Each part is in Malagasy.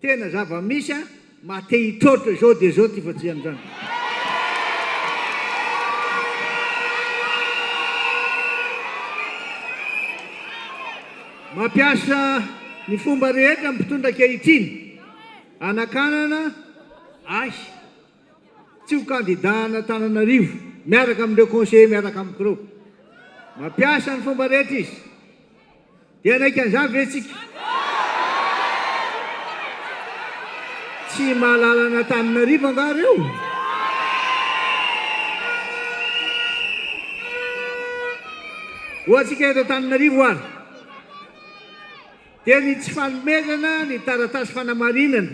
Tena zava misy a! Mba te hitroatra izao dia izao ity fajian drano. Mampiasa ny fomba rehetra ny mpitondra ankehitriny hanakanana ahy. Tsy ho kandida an'Antananarivo miaraka amin'ireo conseillers miaraka amiko ireo. Mampiasa ny fomba rehetra izy. Dia hanaika an'izany ve isika? Tsy mahalala an'Antananarivo angaha ireo? Hoantsika eto Antananarivo ary dia ny tsy fanomezana ny taratasy fanamarinana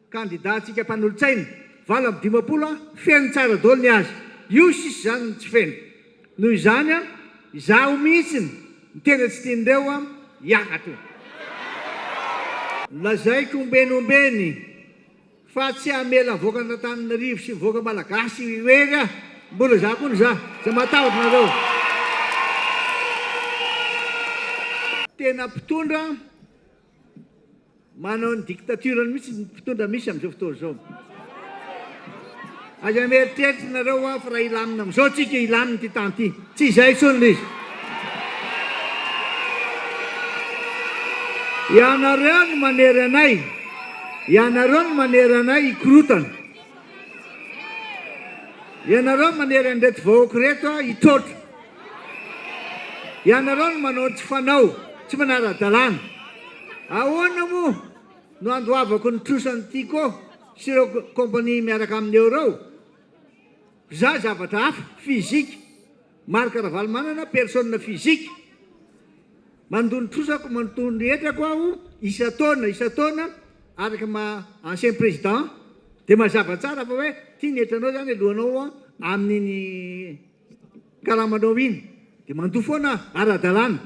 Kandida antsika mpanolotsaina, valo amby dimampolo an, feno tsara daholo ny azy. Io sisa izany no tsy feno. Noho izany an, izaho mihitsy no tena tsy tian'ireo an, hiakatra. Lazaiko ombieny ombieny fa tsy hamela mivoaka an'Antananarivo sy mivoaka Malagasy irery aho. Mbola izaho koa no izaho. Tsy matahotra anareo. Tena mpitondra Manao ny dictature-ny mihitsy ny mpitondra misy amin'izao fotoana izao. Aza mieritreritra nareo hoa fa raha hilamina amin'izao tsika hilamina ity tany ity. Tsy izay intsony ilay izy. Ianareo no manery anay, ianareo no manery anay hikorotana. Ianareo manery an'ireto vahoaka ireto hitroatra. Ianareo no manao ny tsy fanao, tsy manara-dalàna. Ahoana moa no handoavako ny trosan'i Tiko sy ireo compagnie miaraka aminy eo ireo? Za zavatra hafa, physique. Marc Ravalomanana, personne physique. Mandoa ny trosako, mandoa ny hetrako aho isan-taona isan-taona araka ny maha ancien président dia mazava tsara fa hoe ity ny hetranao izany alohanao amin'iny karamanao iny dia mandoa foana aho ara-dalàna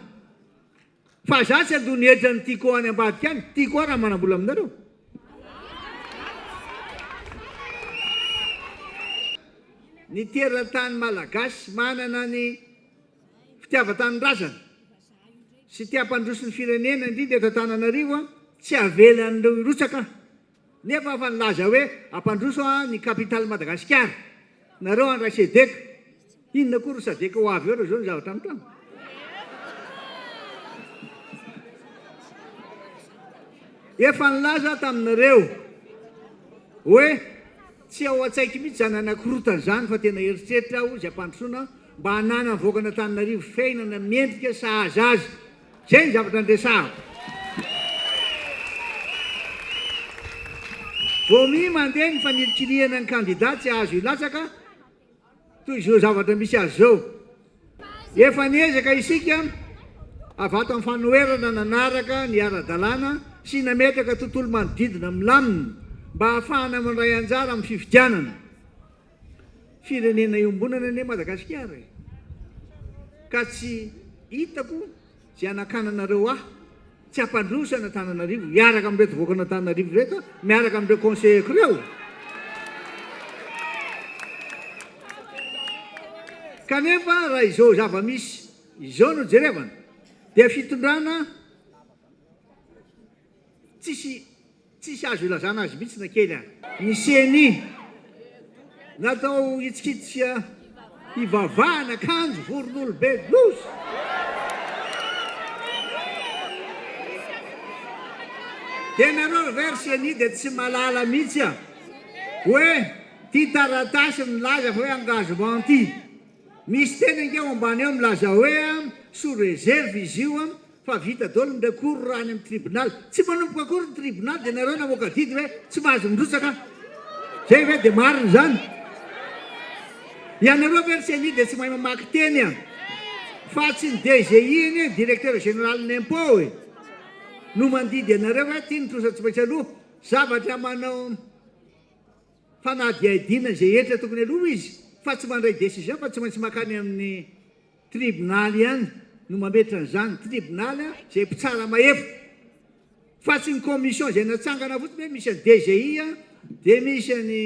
fa izaho tsy handoa ny hetra ny tiako any ambadika any, tiako aho raha manam-bola aminareo. Ny teratany malagasy manana ny. fitiavan-tanindrazana sy te hampandroso ny firenena indrindra eto Antananarivo an, tsy avela an'ireo hirotsaka an, nefa afa nilaza hoe hampandroso an ny capitale Madagasikara nareo handray Cedeca, inona koa ry Sadeca ho avy eo raha zao ny zavatra mitranga. Efa nilaza aho taminareo hoe tsy ao an-tsaiky mihitsy zany hanakorotana zany fa tena eritreritra aho izay hampandrosoana mba hanana ny vahoakan'Antananarivo fiainana mendrika sahaza azy. Izay ny zavatra niresahako. Vao miha mandeha ny fanilikilihana ny kandida tsy azo hilatsaka toy izao zavatra misy azy izao. Efa niezaka isika avy ato amin'ny fanoherana nanaraka ny ara-dalàna sy nametraka tontolo manodidina milamina mba hahafahana mandray anjara amin'ny fifidianana. Firenena iombonana anie Madagasikara e! Ka tsy hitako zay anakananareo ahy tsy hampandroso an'Antananarivo hiaraka amin'ireto vokon'Antananarivo ireto miaraka amin'ireo conseillers-ko ireo. Kanefa raha izao zava-misy izao no jerevana dia fitondrana tsisy Tsisy azo ilazana azy mihitsy na kely a. Ny ceni natao hitsikitsika hivavahana kanjo voronolo be loza. De nareo ve ry ceni de tsy malala mihitsy a. Oe ty taratasy milaza fa oe engagement ty. Misy teny ange ao ambany eo milaza oe a sous reserve izy io a. Fa vita daholo ny recours raha any amin'ny tribunal. Tsy manomboka akory ny tribunal dia nareo namoaka didy hoe tsy mahazo mirotsaka an. Zay ve dia marina izany? Ianareo ve ry ceni dia tsy mahay mamaky teny an. Fa tsy ny DGI anie, directeur général ny impôt e, no mandidy anareo hoe ity ny trosa tsy maintsy aloha. Zavatra manao fanadihadiana izay hetra tokony aloha izy fa tsy mandray decision fa tsy maintsy makany amin'ny. Tribonaly ihany no mametra an'izany, tribonaly izay mpitsara mahefa. Fa tsy ny commission izay natsangana fotsiny hoe misy an'i DGI a, dia misy an'i,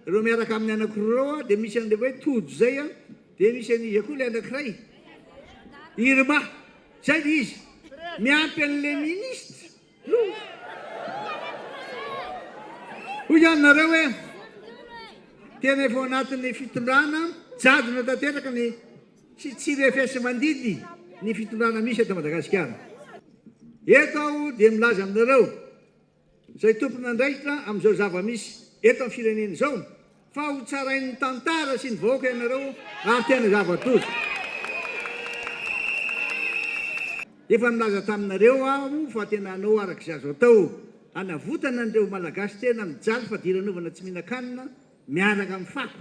ireo miaraka aminy anankiroa ireo a, dia misy an'ilay hoe Tojo izay a, dia misy an'iza koa ilay anankiray? Irma. Izay ilay izy. Miampy an'ilay ministra. Hoy ihany nareo hoe tena efa ao anatin'ny fitondrana jadona tanteraka ny tsy tsy refesi-mandidy ny fitondrana misy eto Madagasikara. Eto aho dia milaza aminareo izay tompon'andraikitra amin'izao zava-misy eto amin'ny firenena izao, Fa ho tsarain'ny tantara sy ny vahoaka ianareo ary tena zava-doza. Efa nilaza taminareo aho fa tena hanao araka izay azo atao hanavotana an'ireo Malagasy tena mijaly fadiranovana tsy mihinan-kanina miaraka amin'ny fako.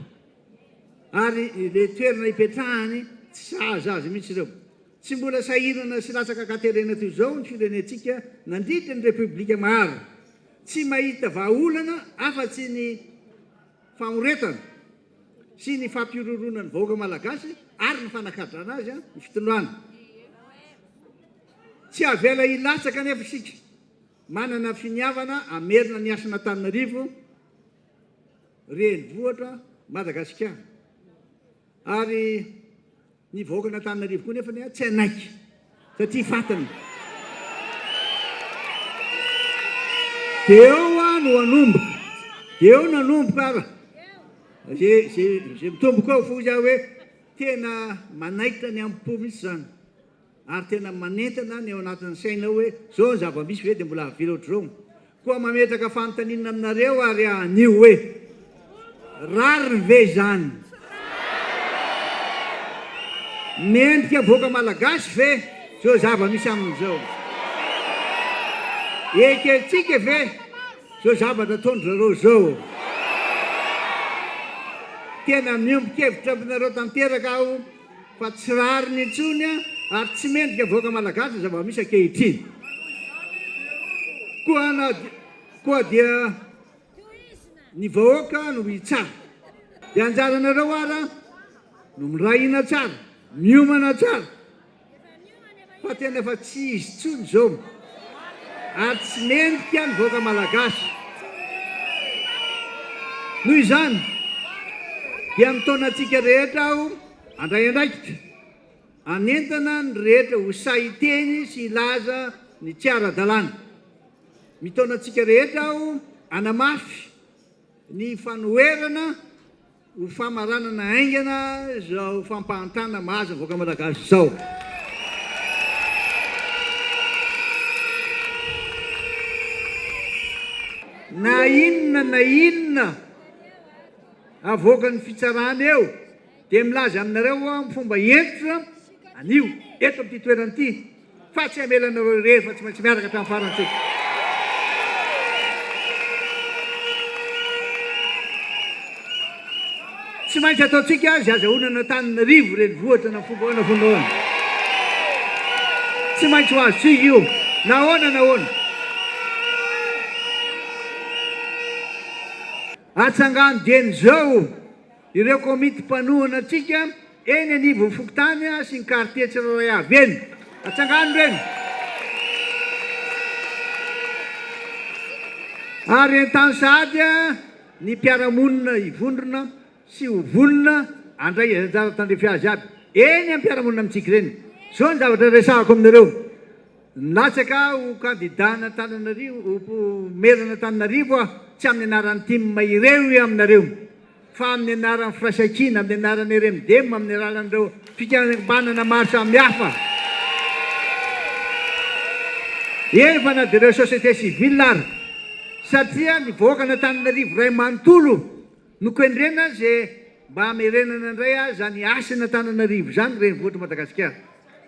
Ary ilay toerana ipetrahany tsy sahaza azy mihitsy ireo. Tsy mbola sahirana sy latsaka an-katerena toy izao ny firenentsika nandritra ny Repoblika maro. Tsy mahita vahaolana afa-tsy ny famoretana sy ny fampihorohoroana ny vahoaka malagasy ary ny fanakadrana azy ny fitondrana. Tsy avela hilatsaka anefa isika, manana finiavana hamerina ny hasin'Antananarivo renivohitra Madagasikara ary. Ny vahoakan'Antananarivo koa nefa tsy hanaiky satria fantany. Dia eo aho no hanomboka. Dia eo no hanomboka aho raha izay mitomboko eo. Fa hoy aho hoe tena manaitra ny am-po mihitsy izany. ary tena manentana ny ao anatin'ny sainao hoe zao ny zava-misy ve dia mbola avela ohatr'izao? Koa mametraka fanontaniana aminareo ary anio hoe rariny ve izany? Mendrika vahoaka malagasy ve zao zava-misy amin'izao? Ekentsika ve zao zavatra ataon-dry zareo zao? Tena miombon-kevitra aminareo tanteraka aho. fa tsy rariny intsony ary tsy mendrika vahoaka malagasy ny zava-misy ankehitriny koa na koa dia ny vahoaka no hitsara dia anjaranareo ara no miray hina tsara miomana tsara fa tena efa tsy izy intsony izao ary tsy mendrika ny vahoaka malagasy. Noho izany dia mitaona antsika rehetra aho handray andraikitra hanentana ny rehetra ho sahy hiteny sy hilaza ny tsy ara-dalàna. Mitaona antsika rehetra aho hanamafy ny fanoherana Ho famaranana haingana izao fampahantana mahazo ny vahoaka Malagasy izao. Na inona na inona avoakan'ny fitsarana eo dia milaza aminareo aho amin'ny fomba hentitra anio eto amin'ity toerana ity Fa tsy hamela anareo irery fa tsy maintsy miaraka hatramin'ny farany isika. Tsy maintsy ataontsika azy hazahoana an'Antananarivo renivohitra na fomba ahoana fomba ahoana. Tsy maintsy ho azontsika io na ahoana na ahoana. Atsangano dieny izao. Ireo komity mpanohana antsika eny anivon'ny fokontany sy ny kartie tsirairay avy eny. Atsangano ireny. Ary entano sahady ny mpiara-monina hivondrona sy ho vonona handray izay anjara tandrify azy aby eny am-piarahamonina amintsika ireny. Izao ny zavatra resahako aminareo. Nilatsaka ho kandida an'Antananarivo ho maire an'Antananarivo aho, tsy amin'ny anaran'ny tim ireo io aminareo, fa amin'ny anaran'ny Firaisankina, amin'ny anaran'ny RMDM, amin'ny alalan'ireo fikambanana maro samihafa, eny fa na dia ireo société civile ary, satria ny vahoakan'Antananarivo iray manontolo, Nokendrena ze mba hamerenana indray aza ny hasina Antananarivo izany renivohitry Madagasikara.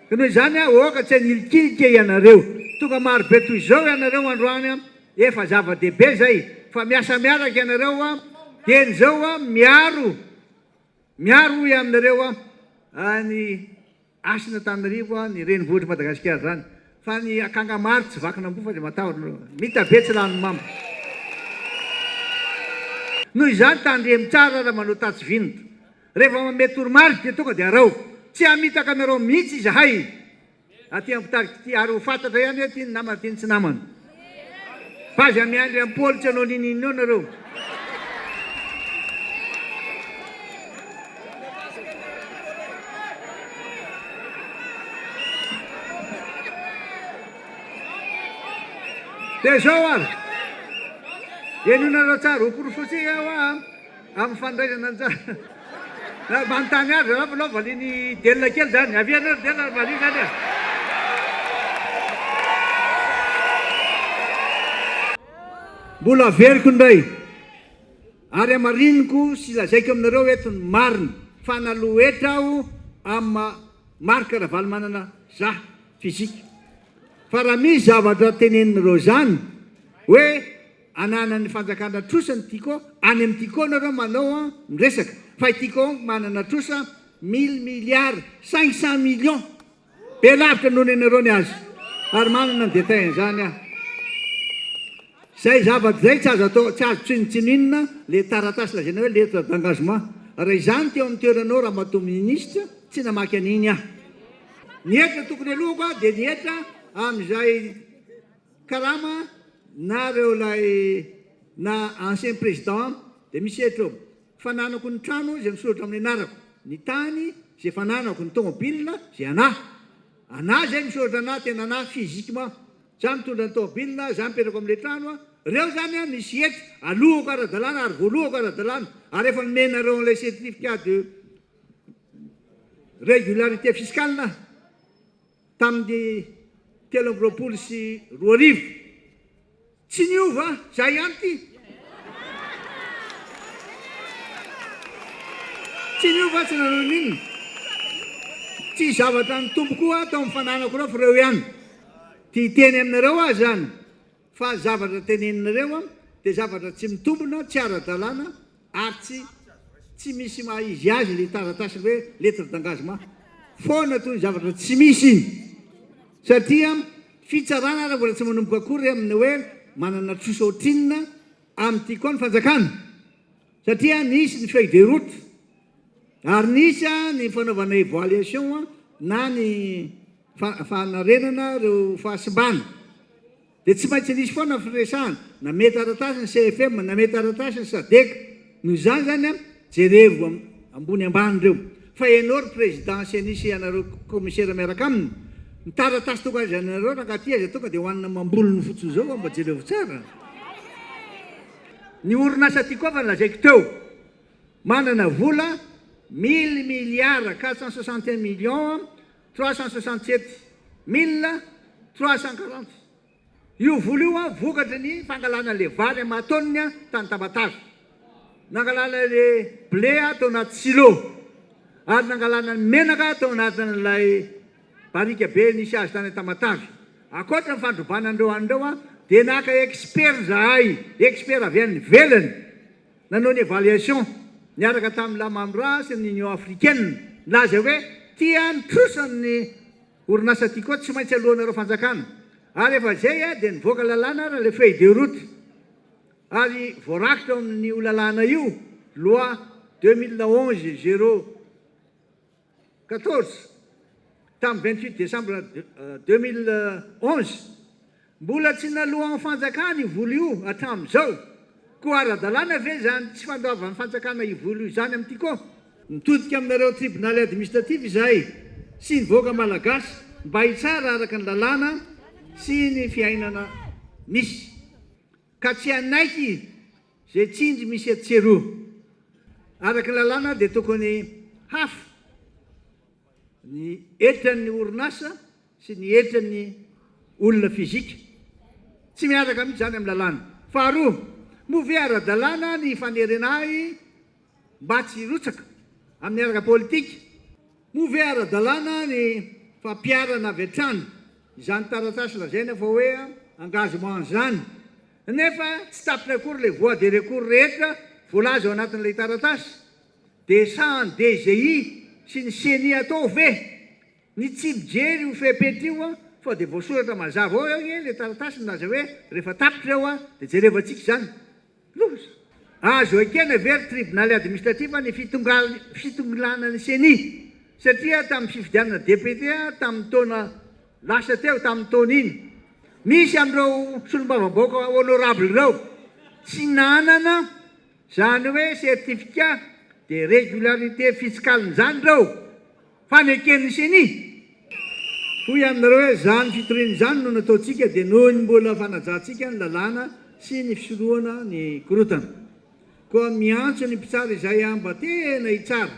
Ka noho izany aho aoka tsy hanilikilika ianareo. Tonga marobe toy izao ianareo androany efa zava-dehibe zay fa miasa miaraka ianareo aho dieny izao aho miaro miaro hoy aminareo aho ny Asa ny Antananarivo a, ny renivohitr'i Madagasikara zany. Fa ny akanga maro tsy vakin'amboa fa dia matahotra nareo. Mita be tsy lany mamo. Noho izany tandremo tsara raha manao tatsy vinta. Rehefa manome toromarika dia tonga dia araho. Tsy hamitaka anareo mihitsy izahay aty ampitarika ity ary ho fantatra ihany hoe ty ny namana ty ny tsy namana. Fa aza miandry an'i Paoly tsy hanao ninoninona nareo. Dia izao ary, henonareo tsara ho porofon-tsika hoa. Amin'ny fandraisana anjara na manontany azy ianao fa aleo valian'i Delina kely izany. Avia anao ry Delina ary valio izany e! Mbola averiko indray ary hamariniko sy lazaiko aminareo eto ny marina fa naloa hetra aho amin'i Marc Ravalomanana za, physique. Fa raha misy zavatra teneninareo izany hoe ananan'ny fanjakana trosa ny Tiko, any amin'ny Tiko nareo manao ny resaka, fa i Tiko Hong manana trosa mille milliards cinq cent millions, be lavitra noho ny anareo ny azy, ary manana ny détails an'izany aho. Izay zavatra izay tsy azo atao, tsy azo tsinontsinonina ilay taratasy lazaina hoe lettre d'engagement, raha izany teo amin'ny toeranao Ramatoa Ministra, tsy namaky an'iny aho. Ny hetra tokony aloako aho dia ny hetra amin'izay. Karama na reo lay na ancien président de misy hetra eo. Fananako ny trano izay misoratra amin'ny anarako, ny tany izay fananako, ny tomobil izay anah. Anah izay misoratra anah tena anah physiquement. Zah mitondra ny tomobil, zah mipetraka ao amin'ilay trano, reo zany an misy hetra, alohako ara-dalàna ary voalohako ara-dalàna ary efa nomenareo an'ilay certificat de régularité fiscale aho. tamin'ny telo amby roapolo sy roa arivo. Tsy niova, izay ihany ity. Tsy niova aho tsy nanao n'inona. Tsy zavatra ny Tompo koa aho tao amin'ny fananako ireo fa ireo ihany. Tia hiteny aminareo aho izany Fa ny zavatra teneninareo dia zavatra tsy mitombina, tsy ara-dalàna ary tsy tsy misy maha izy azy ilay taratasy hoe lettre d'engagement foana toy ny zavatra tsy misy iny satria fitsarana ary mbola tsy manomboka akory amin'ny hoe manana trosa ohatrinona amin'ity koa ny fanjakana satria nisy ny feuille de route Ary nisy ny fanaovana evaluation na ny fanarenana ireo fahasimbana. Dia tsy maintsy nisy foana firesahana, na mety taratasy ny CFM, na mety taratasy ny Sadec. Noho izany izany, jerevy ambony ambany ireo. Fa ianao ry Président Ceni sy ianareo Commissaire miaraka aminy, ny taratasy tonga azy anareo rangahy aty aza tonga dia hohanina amam-bolony fotsiny izao fa mba jerevo tsara. Ny orinasa Tiko Ava no lazaiko teo. Manana vola mille milliards quatre cent soixante et un millions trois cent soixante sept mille trois cent quarante io vola io an, vokatry ny fangalana an'ilay vary amin'ny maha tonne an tany Tamatave, nangalana ilay blé an tao anaty silo, ary nangalana ny menaka tao anatin'ilay barika be nisy azy tany Tamatave. Ankoatra ny fandrobana an'ireo an'ireo an, dia naka expert izahay, expert avy any ivelany, Nanao ny evaluation niaraka tamin'ny Lamamra sy ny Union africaine. Nilaza hoe tia ny trosan' ny orinasa ity koa tsy maintsy aloanareo fanjakana. Ary efa izay dia nivoaka lalàna ary ilay feuille de route. Ary voarakitra ao amin'io lalàna io, loi deux mille onze zéro. Quatorze, tamin'ny vingt huit décembre deux mille onze. Mbola tsy naloan'ny fanjakana io vola io hatramin'izao. Koa ara-dalàna ve izany tsy fandoavan'ny fanjakana io vola io izany amin'ity koa? Mitodika aminareo tribonaly administratif izahay sy ny vahoaka malagasy mba hitsara araka ny lalàna sy ny fiainana misy ka tsy hanaiky Izay tsindry misy etsy sy eroa, araka ny lalàna dia tokony hafa ny eltran'ny orinasa sy ny eltran'ny olona fizika. Tsy miaraka mihitsy izany amin'ny lalàna. Faharoa, moa ve ara-dalàna ny fanerena ahy mba tsy hirotsaka amin'ny ara-politika? Moa ve ara-dalàna ny fampiharana avy hatrany izany taratasy lazaina fa hoe engagement izany? Nefa tsy tapitra akory ilay voies de recours rehetra voalaza ao anatin'ilay taratasy. Dia sahan'ny DGI sy ny Ceni atao ve? Ny tsy mijery io fepetra io an, fa dia voasoratra mazava ao anie ilay taratasy milaza hoe rehefa tapitra eo an, dia jerevantsika izany. Loza. Azo ekena ve ry Tribonaly Administratif ny fitongilanan'ny Ceni? Satria tamin'ny fifidianana député tamin'ny taona Lasa teo tamin'ny taona iny, misy amin'ireo solombavambahoaka honorable ireo tsy nanana izany hoe certificat de régularité fiscale izany ireo, fa neken'ny ceni. Hoy aminareo hoe izany fitoriana izany no nataontsika dia noho ny mbola fanajantsika ny lalàna sy ny fisorohana ny korontana. Koa miantso ny mpitsara izay mba tena hitsara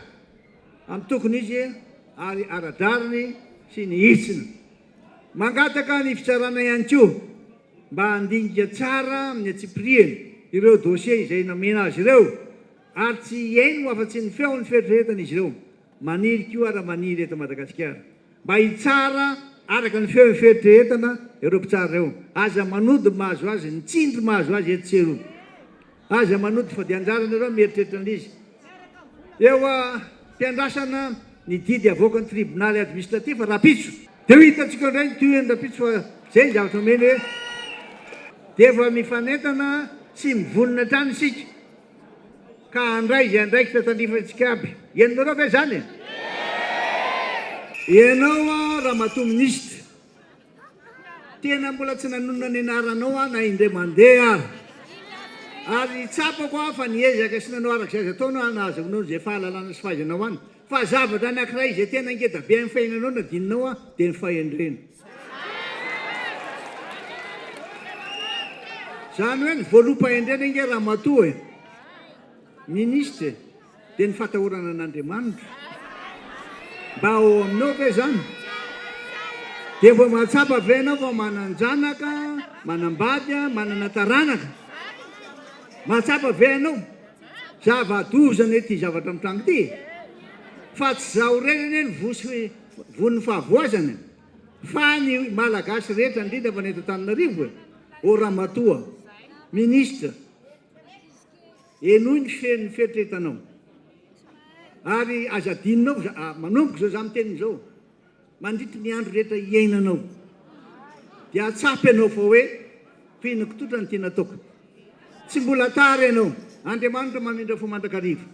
amin'ny tokony izy ary ara-drariny sy ny hitsiny. Mangataka ny fitsarana ihany koa mba handinika tsara amin'ny antsipiriany ireo dossiers izay nomena azy ireo ary tsy hihaino afa-tsy ny feon'ny fieritreretan'izy ireo. Maniry koa raha maniry eto Madagasikara mba hitsara araka ny feon'ny fieritreretana ireo mpitsara ireo. Aza manody ny mahazo azy, ny tsindry mahazo azy eto tsy eroa. Aza manody fa dia anjaran ireo ny mieritreritra ny izy. Eo am-piandrasana ny didy havoakan'ny tribonaly administratif rahampitso. Dia ho hitantsika indray ny tohiny rahampitso fa izay ny zavatra omeny hoe dia efa mifanentana sy mivonona hatrany isika Ka handray izay andraikitra tandifantsika aby. Henonareo ve izany e? Ianao an Ramatoa Minisitra, tena mbola tsy nanonona ny anaranao aho na indray mandeha ary. Ary tsapako an fa niezaka sy nanao arak'izay azo atao no hanazavanao izay fahalalana sy fahaizanao any. Fa zavatra anankiray izay tena ngeda be amin'ny fiainanao no adinonao an, dia ny fahendrena. Izany hoe ny voaloham-pahendrena ange ramatoa e, minisitra e, dia ny fatahorana an'Andriamanitra. Mba ao aminao ve izany? Dia vao mahatsapa ve ianao fa manan-janaka, manam-bady, manana taranaka? Mahatsapa ve ianao? Zava-doza anie ty zavatra mitranga ty e! Fa tsy zaho irery anie no von'ny fahavoazana e! Fa ny Malagasy rehetra indrindra fa ny eto Antananarivo e! Ô Ramatoa Ministra, henoy ny feon'ny fieritreretanao ary aza adinonao, manomboka izao za miteny izao, Mandritra ny andro rehetra iainanao dia atsapa ianao fa hoe, Fihinako tsotra ny tiana ataoko. Tsy mbola tara ianao. Andriamanitra mamindra fo mandrakariva.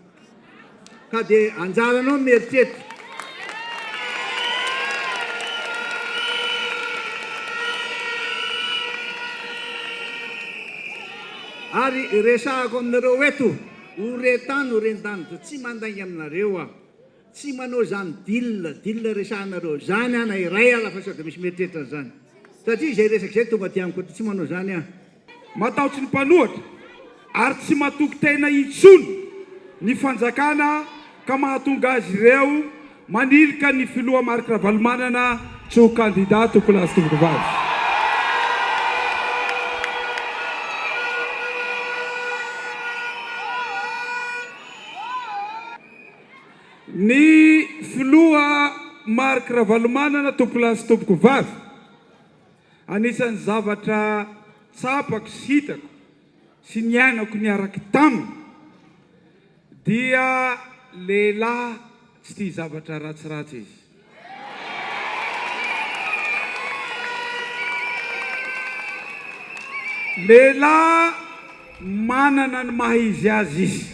Ka dia anjaranao ny mieritreritra. Ary resahako aminareo eto, ho ren-tany, ho ren-danitra. Tsy mandainga aminareo aho. Tsy manao zany deal deal resahanareo zany aho na iray aza fa sao de misy mieritreritra an'izany. Satria izay resaka izay tonga aty amiko aty tsy manao zany aho. Matahotsy ny mpanohatra ary tsy matoky tena intsony ny fanjakana ka mahatonga azy ireo manilika ny filoha Marc Ravalomanana tsy ho kandida tompoko lahy sy tompoko vavy. Ny filoha Marc Ravalomanana tompolahy sy tompoko vavy, anisan'ny zavatra tsapako sy hitako sy niainako niaraka taminy dia lehilahy tsy tia zavatra ratsiratsy izy. Lehilahy manana ny maha izy azy izy.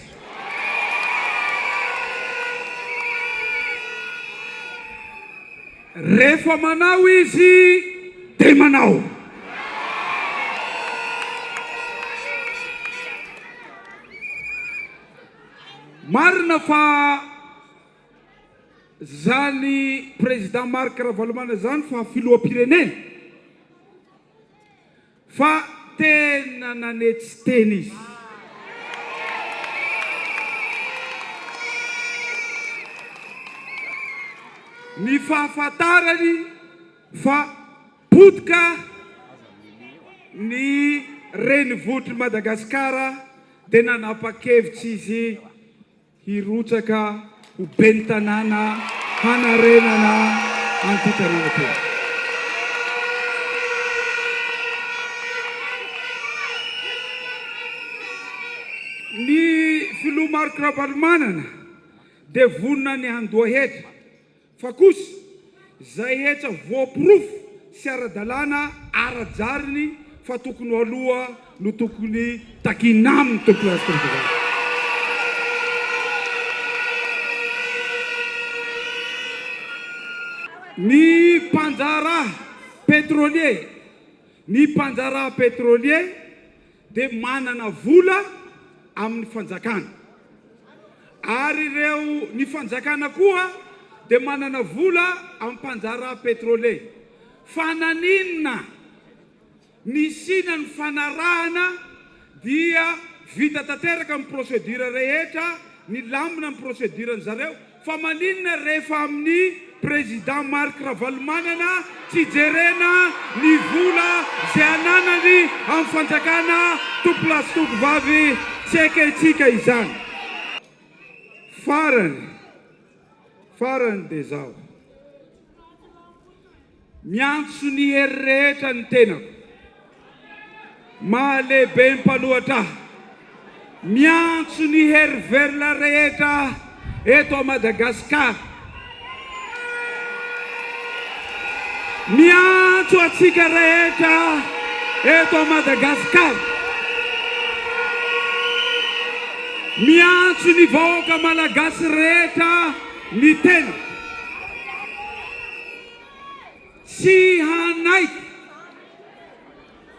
Rehefa manao izy dia manao. Marina fa. Zany président Marc Ravalomanana izany fa filoham-pirenena? Fa tena nanetsy tena izy. Ny fahafantarany fa potika ny renivohitr'i Madagasikara dia nanapa-kevitra izy Hirotsaka ho ben'ny tanàna hanarenana an'ity tanàna ity. Ny filoha Marc Ravalomanana dia vonona ny handoa hetra. Fa kosa, izay hetra voaporofo sy ara-dalàna ara-jariny fa tokony ho aloha no tokony takiana aminy, Tompo Lasy Tondrava. Ny mpandraharaha pétrolier, ny mpandraharaha pétrolier dia manana vola amin'ny fanjakana ary ireo ny fanjakana koa dia manana vola amin'ny mpanjaraha petrole fa naninona nisiana ny fanarahana dia vita tanteraka ny procedure rehetra nilamina ny procedure ny zareo Fa maninona rehefa amin'ny Président Marc Ravalomanana tsy jerena ny vola izay ananany amin'ny fanjakana tompolasy tongovavy tsy ekentsika izany? Farany farany dia izao. Miantso ny hery rehetra ny tenako. Mahalehibe mpanohatra ahy. Miantso ny hery velona rehetra eto à Madagascar. Miantso antsika rehetra eto à Madagascar. Miantso ny vahoaka malagasy rehetra ny tenako. Tsy hanaiky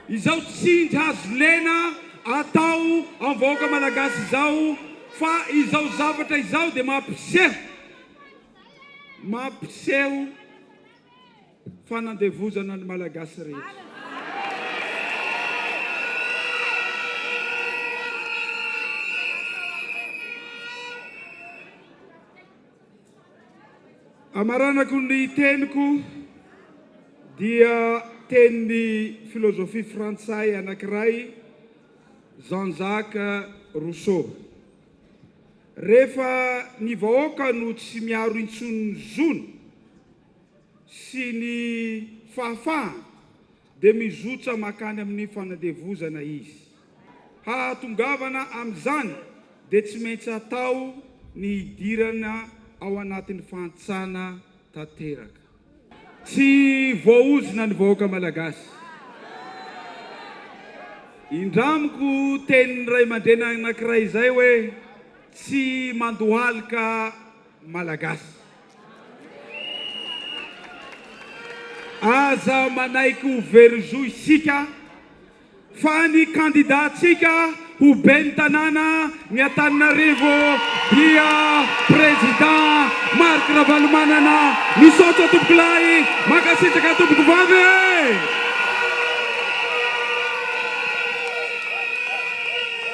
izao tsindry azo lena atao amin'ny vahoaka malagasy izao fa izao zavatra izao dia mampiseho mampiseho fanandevozana ny malagasy rehetra. Hamaranako ny teniko dia tenin'ny filôzôfia frantsay anankiray Jean Jacques Rousseau. Rehefa ny vahoaka no tsy miaro intsony ny zony sy ny fahafahany, dia mizotra mankany amin'ny fanandevozana izy. Hahatongavana amin'izany dia tsy maintsy atao ny hidirana ao anatin'ny fahantsana tanteraka. Tsy voaozona ny vahoaka Malagasy. Indramiko tenin'ny ray aman-dreny anankiray izay hoe, tsy mandohalika Malagasy. Aza manaiky ho very zo isika fa ny kandidantsika ho ben'ny tanàna ny Antananarivo dia Président Marc Ravalomanana. Misaotra tompokolahy, mankasitraka tompokovavy e!